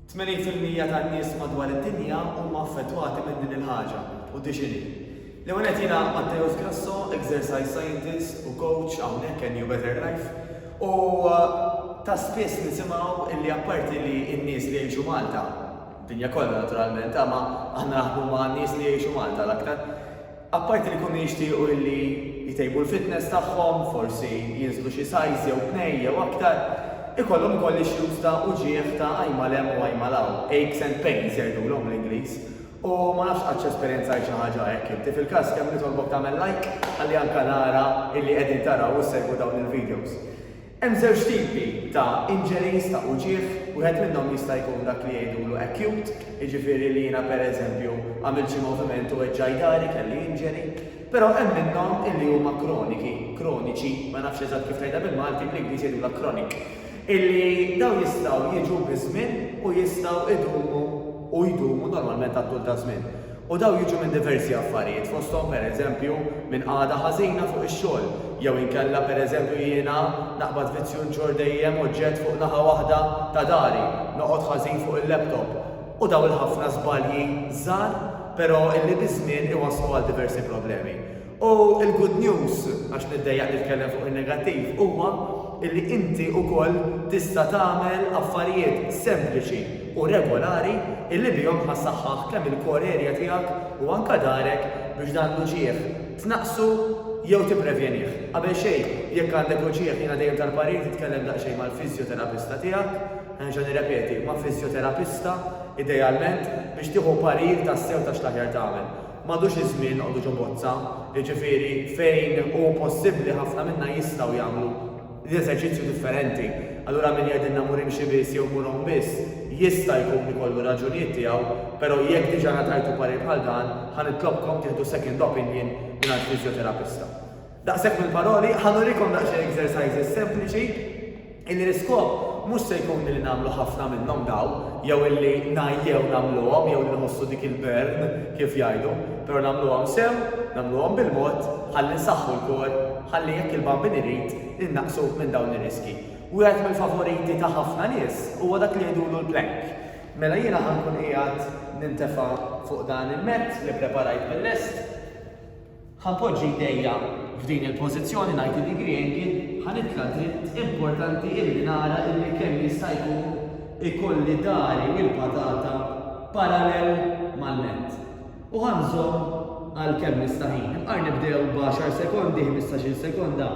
Tmenin fil-mija tan-nies madwar id-dinja huma affettwati minn din il-ħaġa, u di x'inhi. L-ewwel nett jiena Matteus Grasso, exercise scientist u coach hawnhekk NU Better Life, u ta' spiss nisimgħu li apparti li n-nies li jgħixu Malta, dinja kollha naturalment, aħna naħdmu ma' nies li jgħixu Malta l-aktar, Apparti li jkunu jixtiequ illi jtejbu l-fitness tagħhom, forsi jinżlu xi size jew tnejn jew aktar, ikollhom ukoll issues ta' uġigħ ta' għajn mal hemm u għajn mal hawn, aches and pains jgħidulhom bl-Ingliż. U ma nafx qadx esperjenzajt xi ħaġa hekk inti. Fil-każ kemm nitolbok tagħmel like ħalli anke nara illi qegħdin taraw u ssegwu dawn il-videos. Hemm żewġ tipi ta' injuries ta' uġigħ, wieħed minnhom jista' jkun dak li jgħidulu acute, jiġifieri li jiena per eżempju għamilt xi moviment u weġġaj dahri, kelli injury. Però hemm minnhom illi huma kroniki, kroniċi, ma nafx eżatt kif tgħidha bil-Malti, bl-Ingliż jgħidulha chronic, illi dawn jistgħu jiġu biż-żmien u jistgħu jdumu u jdumu normalment għat-tul taż-żmien. U dawn jiġu minn diversi affarijiet, fosthom pereżempju minn qagħda ħażina fuq ix-xogħol, jew inkella pereżempju jiena naqbad vizzju nġorr dejjem oġġett fuq naħa waħda ta' dari, noqgħod ħażin fuq il-laptop. U dawn il-ħafna żbalji żgħar, però illi biż-żmien iwasslu għal diversi problemi. U l-good news, għax niddejjaq nitkellem fuq in-negattiv, huwa li inti wkoll tista' tagħmel affarijiet sempliċi u regolari li bihom ħa ssaħħaħ kemm il-core area tiegħek u anke darek biex dan l-uġigħ tnaqqsu jew tipprevjenih. Qabel xejn, jekk għandek uġigħ jiena dejjem tal-parir titkellem daqsxejn mal-fiżjoterapista tiegħek, nerġa' nirrepeti, ma' fiżjoterapista idealment biex tieħu parir tassew ta' x'l-aħjar tagħmel. M'għadux iż-żmien noqogħdu ġo bozza, jiġifieri fejn hu possibbli ħafna minna jistgħu jagħmlu l-eżerċizzju differenti. Allura min jgħidilna mmur imxi biss jew mmur għum biss, jista' jkun ikollu r-raġunijiet tiegħu, però jekk diġà ngħatajtu parir bħal dan, ħa nitlobkom tieħdu second opinion mingħand fiżjoterapista. Daqshekk mill-paroli, ħa nurikom daqsxejn exercises sempliċi illi l-iskop mhux se jkun li nagħmlu ħafna minnhom dawn, jew illi ngħajjew nagħmluhom jew li nħossu dik il-burn kif jgħidu, però nagħmluhom sew, nagħmluhom bil-mod, ħalli nsaħħu l-kor, ħalli jekk il-Bambin irid, innaqsu minn dawn ir-riskji. Wieħed mill-favoriti ta' ħafna nies huwa dak li jgħidulu l-plank. Mela jiena ħa nkun qiegħed nintefa' fuq dan il-mat li ppreparajt bil-lest. Ħa npoġġi jdejja f'din il-pożizzjoni, ngħid lili Griegi, ħa nitla' dritt, importanti illi nara illi kemm jista' jkun ikolli dari u l-patata parallel mal-nett. U ħa nżomm għal kemm nista' ħin. Imqar nibdew b'għaxar sekondi, ħmistax-il sekonda,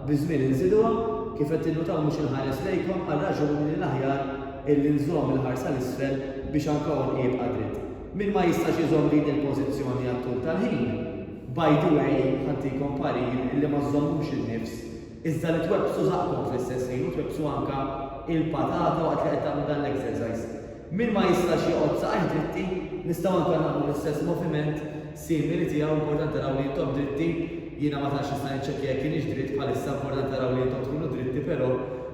biż-żmien inżiduha. Kif qed tinnutaw mhux inħares lejkom għal raġuni li l-aħjar illi nżomm il-ħarsa 'l isfel biex anka għonqi jibqa' dritt. Min ma jistax iżomm din il-pożizzjoni għat-tul tal-ħin, by the way, ħantikom parir illi ma żżommux in-nifs, iżda li twebbsu żaqqkom fl-istess ħin u twebbsu anke il-patata waqt li qed tagħmlu dan l-exercise. Min ma jistax joqgħod saqajh dritti, nistgħu anke nagħmlu l-istess moviment simili tiegħu, importanti naraw li intom dritti, jiena ma tantx nista' niċċekkja jekk inix dritt bħalissa, importanti naraw li intom tkunu dritti però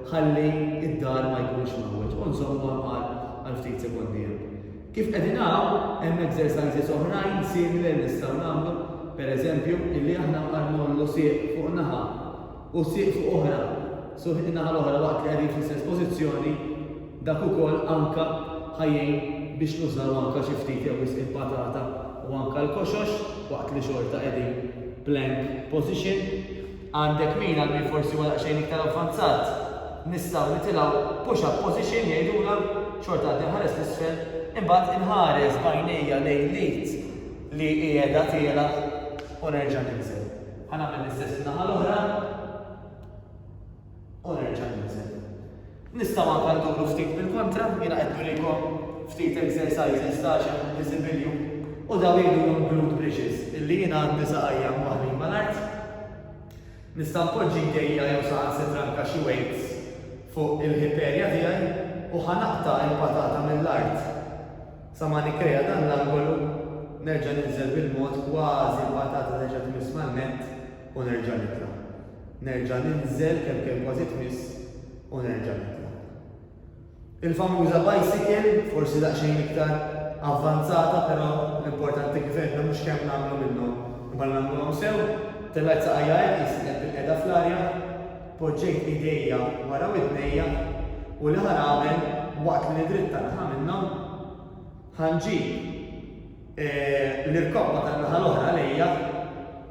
ħalli d-daħal ma jkunx mgħawweġ u nżommu hemm għal ftit sekondi hemm. Kif qegħdin hawn, hemm exercises oħrajn simili li nistgħu nagħmlu, per eżempju, illi aħna nbqa' ngħollu sieq fuq naħa u sieq fuq oħra, so in-naħa l-oħra waqt li qegħdin fl-istess pożizzjoni, dak ukoll anke ħa jgħin biex nużaw anke xi ftit jew wisq il-patata u anke l-koxox waqt li xorta qegħdin plank position. Għandek min għal min forsi huwa daqsxejn iktar avvanzat, nistgħu nitilgħu push up position jgħidulha, xorta għad inħares 'l isfel, imbagħad inħares b'għajnejja lejn l-id li qiegħda tielgħa u nerġa' ninżel. Ħa nagħmel l-istess in-naħa l-oħra. U nerġa' ninżel. Nistgħu anke nduru ftit bil-kontra, jiena qed nurikom ftit exercises ta' xem iżibilju u daw jgħidulhom glute bridges, illi jiena għandi saqajja mwaħħlin mal-art. Nista' npoġġi jdejja jew saħansitra anke xi weights fuq il-hip area tiegħi u ħa naqta' il-patata mill-art sa ma nikkrea dan l-angolu, nerġa' ninżel bil-mod kważi l-patata terġa' tmiss man-nett, u nerġa' nitla'. Nerġa' ninżel kemm kemm kważi tmiss u nerġa' nitla'. Il-famuża bicycle, forsi daqsxejn iktar avvanzata però l-importanti kif għedna mhux kemm nagħmlu minnhom imma li nagħmluhom sew, tellgħet saqajja hekk li sieqet bilqiegħda fl-arja, poġġejt idejja wara widnejja u l-aħħar għamel waqt li nidritta naħa minnhom, Ħa nġib l-irkobba tan-naħa l-oħra għalejja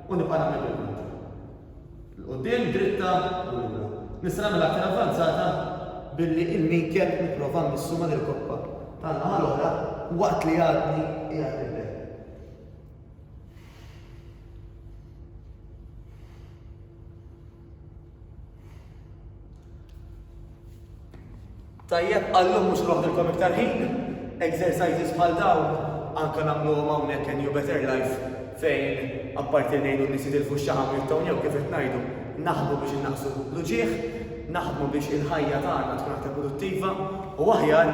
u nibqa' nagħmel bil-kontra. 'l quddiem, dritta, u lura. Nista' nagħmel aktar avvanzata billi l-minket nipprova mmissu mal-irkobba tan-naħa l-oħra waqt li għadni qiegħed nibgħed. Tajjeb, għallum mhux noħdilkom iktar ħin, exercises bħal dawn anka nagħmluhom hawnhekk in New Better Life fejn apparti ngħidu nies jitilfu x-xaħam jew kif qed ngħidu, naħdmu biex innaqsu l-uġieħ, naħdmu biex il-ħajja tagħna tkun aktar produttiva u aħjar